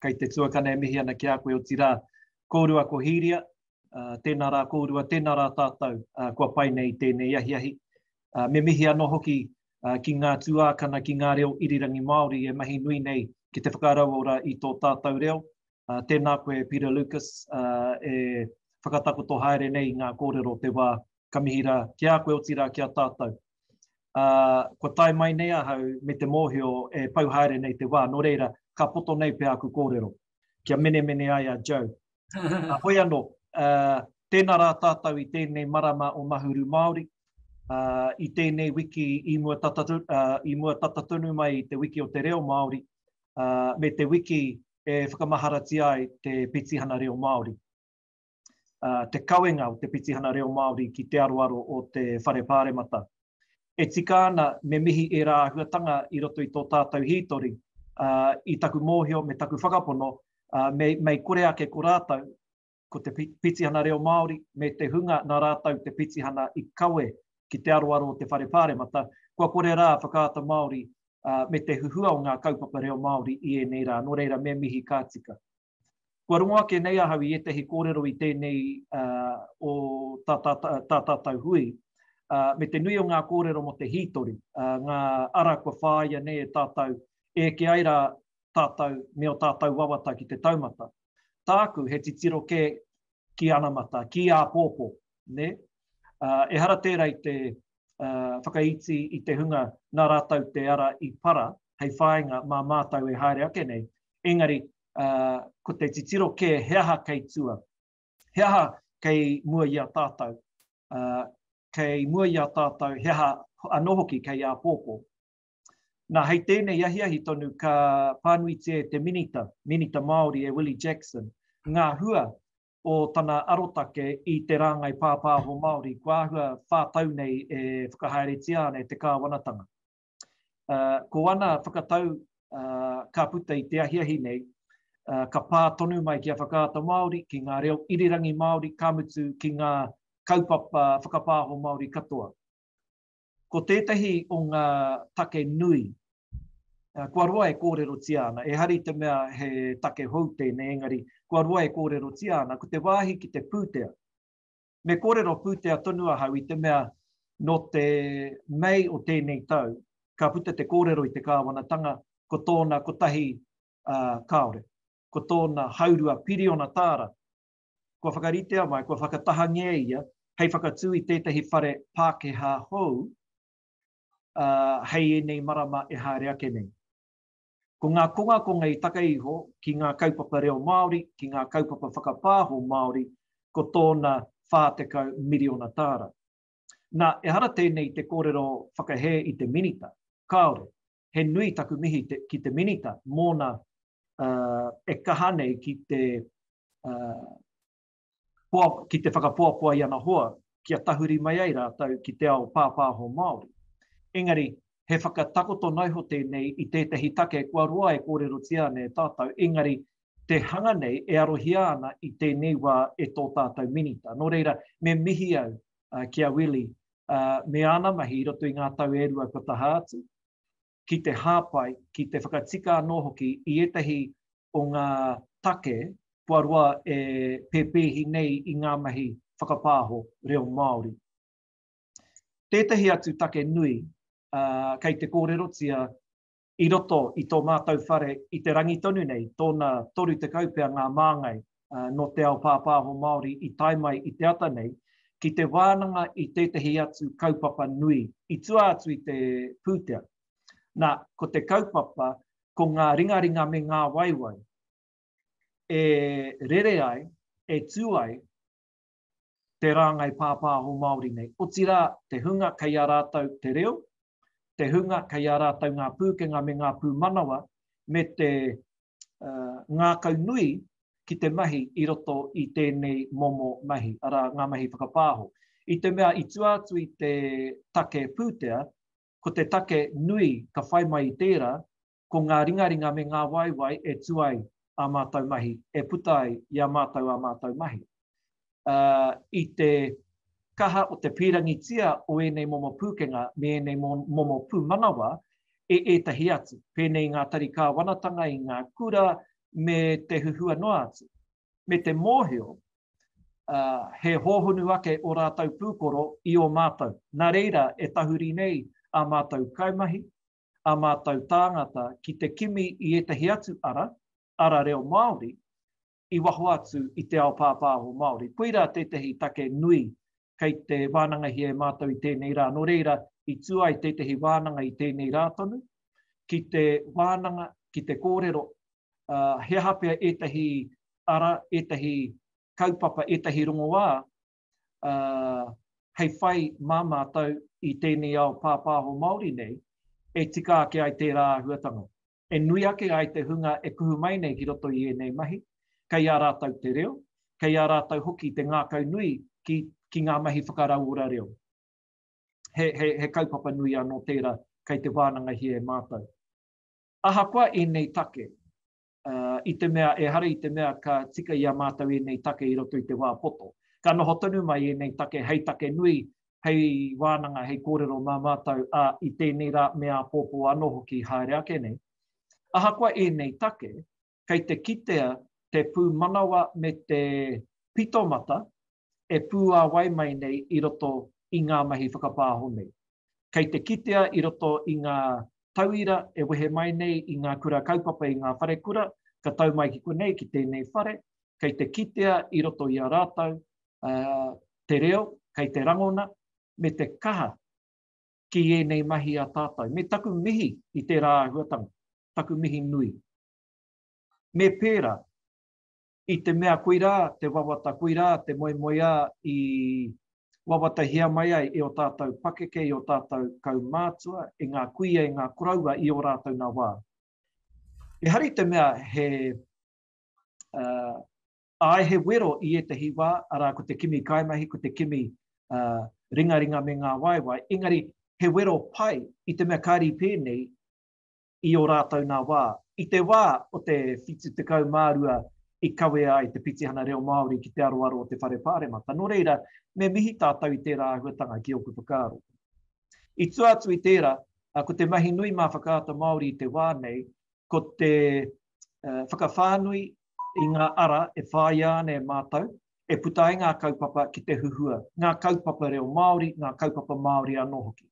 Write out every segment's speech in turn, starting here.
Kei te tuakana e mihi ana ki a koe otirā. Kōrua ko Hīria, tēnā rā kōrua, tēnā rā tātou kua pai nei i tēnei ahiahi. Me mihi anō hoki ki ngā tuākana, ki ngā reo irirangi Māori e mahi nui nei ki te whakarauora i tō tātou reo. Tēnā koe Peter Lucas e whakatakoto haere nei i ngā kōrero o te wā. Ka mihi rā ki a koe otirā ki a tātou. ā, kua tae mai nei ahau me te mōhio e pau haere nei te wā, nō reira, ka poto nei pea aku kōrero, kia menemene ai a Joe. Ā, hoi anō, ā, tēnā rā tātou i tēnei marama o Mahuru Māori, ā, i tēnei wiki i mua tata, ā, i mua tata tonu mai i te wiki o te reo Māori, ā, me te wiki e whakamaharatia ai te petihana reo Māori. te kawenga o te Pitihana Reo Māori ki te aroaro o te Whare Pāremata. E tika ana, me mihi ērā āhuatanga i roto i tō tātou hītori, ā, i taku mōhio me taku whakapono, ā, me, mei kore ake ko rātou, ko te Pitihana Reo Māori me te hunga nā rātou te pitihana i kawe ki te aroaro o te Whare Pāremata, kua kore rā whakaata Māori, ā, me te huhua o ngā kaupapa reo Māori i ēnei rā. Nō reira, me mihi ka tika. Kua rongo ake nei ahau i ētahi kōrero i tēnei o tā tātou hui, me te nui o ngā kōrero mō te hītori, ngā ara kua whāia nei e tātou, eke ai rā tātou me ō tātou wawata ki te taumata. Tāku, he titiro kē ki anamata, ki āpōpō, nē? Ehara tērā i te whakaiti i te hunga nā rātou te ara i para hei whāinga mā mātou e haere ake nei, engari ko te titiro kē he aha kei tua, he aha kei mua i a tātou, kei mua i a tātou he aha anō hoki kei āpōpō. Nā, hei tēnei ahiahi tonu ka pānuitia e te Minita, Minita Māori e Willie Jackson, ngā hua o tana arotake i te rāngai pāpāho Māori kua āhua whā tau nei e whakahaeretia ana e te kāwanatanga. Ko ana whakatau ka puta i te ahiahi nei, ka pā tonu mai ki a Whakaata Māori, ki ngā reo irirangi Māori, ka mutu ki ngā kaupapa whakapāho Māori katoa. Ko tētahi o ngā take nui, kua roa e kōrerotia ana, ehara i te mea he take hou tēnei, engari kua roa e kōrerotia ana, ko te wāhi ki te pūtea. Me kōrero pūtea tonu ahau i te mea nō te Mei o tēnei tau, ka puta te kōrero i te kāwanatanga, ko tōna kotahi kāore, ko tōna haurua piriona tāra, kua whakaritea mai, kua whakatahangia ia hei whakatū i tētahi whare Pākehā hou hei ēnei marama e haere ake nei. Ko ngā kongakonga i taka iho ki ngā kaupapa reo Māori, ki ngā kaupapa whakapāho Māori, ko tōna 40 miriona tāra. Nā, ehara tēnei te kōrero whakahē i te Minita, kāore, he nui taku mihi te, ki te Minita mōna uh, e kaha nei ki te, uh, poa, ki te whakapoapoa i ana hoa kia tahuri mai ai rātou ki te ao pāpāho Māori. Engari, he whakatakoto noiho tēnei i tētahi take kua roa e kōrerotia ana e tātou, engari te hanga nei e arohia ana i tēnei wā e tō tātou minita. Nō reira, me mihi au uh, ki a Willie me āna mahi i roto i ngā tau e rua kua taha atu, ki te hāpai, ki te whakatika anō hoki i ētahi o ngā take kua roa e pēpēhi nei i ngā mahi whakapāho reo Māori. Tētahi atu take nui, kei te kōrerotia i roto i tō mātou whare i te rangi tonu nei, tōna 30 pea ngā māngai nō te ao pāpāho Māori i tae mai i te ata nei, ki te wānanga i tētehi atu kaupapa nui i tua atu i te pūtea. Nā, ko te kaupapa, ko ngā ringaringa me ngā waewae e rere ai, e tū ai, te rāngai pāpāho Māori nei, otirā te hunga kei a rātou te reo, te hunga kei a rātou ngā pūkenga me ngā pūmanawa, me te ngākau nui ki te mahi i roto i tēnei momo mahi, arā, ngā mahi whakapāho. I te mea i tua atu i te take pūtea, ko te take nui ka whai mai i tērā, ko ngā ringaringa me ngā waewae e tū ai ā mātou mahi, e puta ai i a mātou ā mātou mahi. I te kaha o te pīrangitia o ēnei momo pūkenga me ēnei momo pūmanawa e ētahi atu, pēnei i ngā tari kāwanatanga, i ngā kura me te huhua noa atu, me te mōhio he hōhonu ake ō rātou pūkoro i ō mātou, nā reira e tahuri nei ā mātou kaimahi, ā mātou tāngata ki te kimi i ētahi atu ara, ara reo Māori, i waho atu i te ao pāpāho Māori. Koirā tētahi take nui kei te wānangahia e mātou i tēnei rā. Nō reira, i tū ai tētahi wānanga i tēnei rā tonu, ki te wānanga, ki te kōrero, he aha pea ētahi ara, ētahi kaupapa, ētahi rongoā uh, hei whai mā mātou i tēnei ao pāpāho Māori nei, e tika ake ai tērā āhuatanga. E nui ake ai te hunga e kuhu mai nei ki roto i ēnei mahi, kei a rātou te reo, kei a rātou hoki te ngākau nui ki, ki ngā mahi whakarauora reo. He, he, he kaupapa nui anō tērā kei te wānangahia e mātou. Ahakoa ēnei take, i te mea ehara i te mea ka tika i a mātou ēnei take i roto i te wā poto. Ka noho tonu mai ēnei take hei take nui, hei wānanga, hei kōrero mā mātou, ā, i tēnei rā me āpōpō anō hoki haere ake nei. Ahakoa ēnei take, kei te kitea te pūmanawa me te pitomata e pūāwai mai nei i roto i ngā mahi whakapāho nei. Kei te kitea i roto i ngā tauira e wehe mai nei i ngā kura kaupapa i ngā wharekura, ka tau mai ki konei, ki tēnei whare, kei te kitea i roto i a rātou te reo, kei te rangona, me te kaha ki ēnei mahi a tātou. Me taku mihi i tērā āhuatanga, taku mihi nui. Me pērā, I te mea koirā te wawata, koirā te moemoeā i wawatahia mai ai e ō tātou pakeke, e ō tātou kaumātua, e ngā kuia, e ngā koroua i ō rātou nā wā. E hari te mea he, āe he wero i ētahi wā, arā ko te kimi kaimahi, ko te kimi ringaringa me ngā waewae, engari he wero pai i te mea kāri pēnei i ō rātou nā wā. I te wā o te 72 i kawea ai te Pitihana Reo Māori ki te aroaro o te Whare Pāremata, nō reira, me mihi tātou i tērā āhuatanga ki ōku whakaaro. I tua atu i tērā, ko te mahi nui mā Whakaata Māori i te wā nei, ko te whakawhānui i ngā ara e whāia ana e mātou, e puta ai ngā kaupapa ki te huhua, ngā kaupapa reo Māori, ngā kaupapa Māori anō hoki.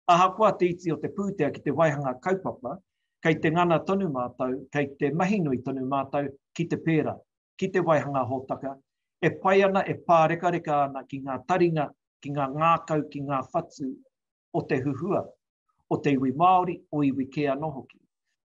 Ahakoa te iti o te pūtea ki te waihanga kaupapa, kei te ngana tonu mātou, kei te mahi nui tonu mātou ki te pērā, ki te waihanga hōtaka, e pai ana, e pārekareka ana ki ngā taringa, ki ngā ngākau, ki ngā whatu o te huhua, o te iwi Māori, o iwi kē anō hoki.